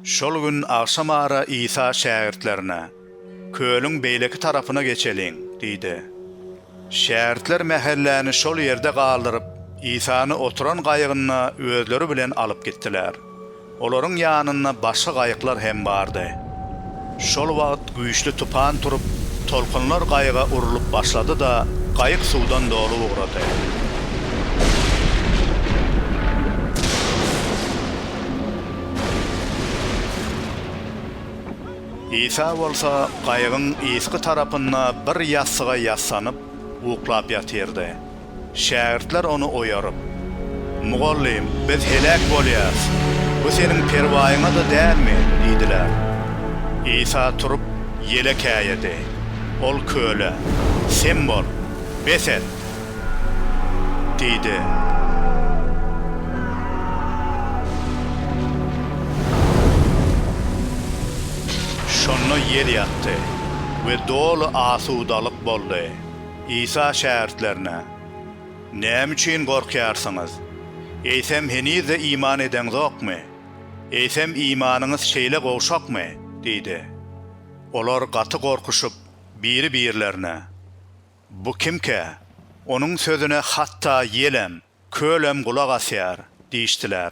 Şol gün agşam ara Isa şägirtlerine, Kölüň beýleki tarapyna geçeliň! diýdi. Şägirtler mähelläni şol ýerde galdyryp, Isany oturan gaýygynda özleri bilen alyp gitdiler. Olaryň ýanynda başga gaýyklar hem bardy. Şol wagt güýçli tupan turup, tolkunlar gaýyga urlup başlady-da, gaýyk suwdan doly ugrady. Isa bolsa gaýygyň yzky tarapynda bir ýassyga ýassanyp, uklap ýatyrdy. Şägirtler ony oýaryp. Mugallym, biz heläk bolýarys. Bu seniň perwaýyňa-da dälmi? diýdiler. Isa turup, ýele käýedi. Ol köle, Sem bol, bes et! diýdi. Şonda ýel ýatdy we doly asudalyk boldy. Isa şägirtlerine, Näme üçin gorkýarsyňyz? Eýsem heniz-de iman edeňzokmy? Eýsem imanyňyz şeýle gowşakmy? diýdi. Olar gaty gorkuşyp, biri-birlerine, Bu kimkä? Onuň sözüne hatda ýelem, kölem gulak asýar diýişdiler.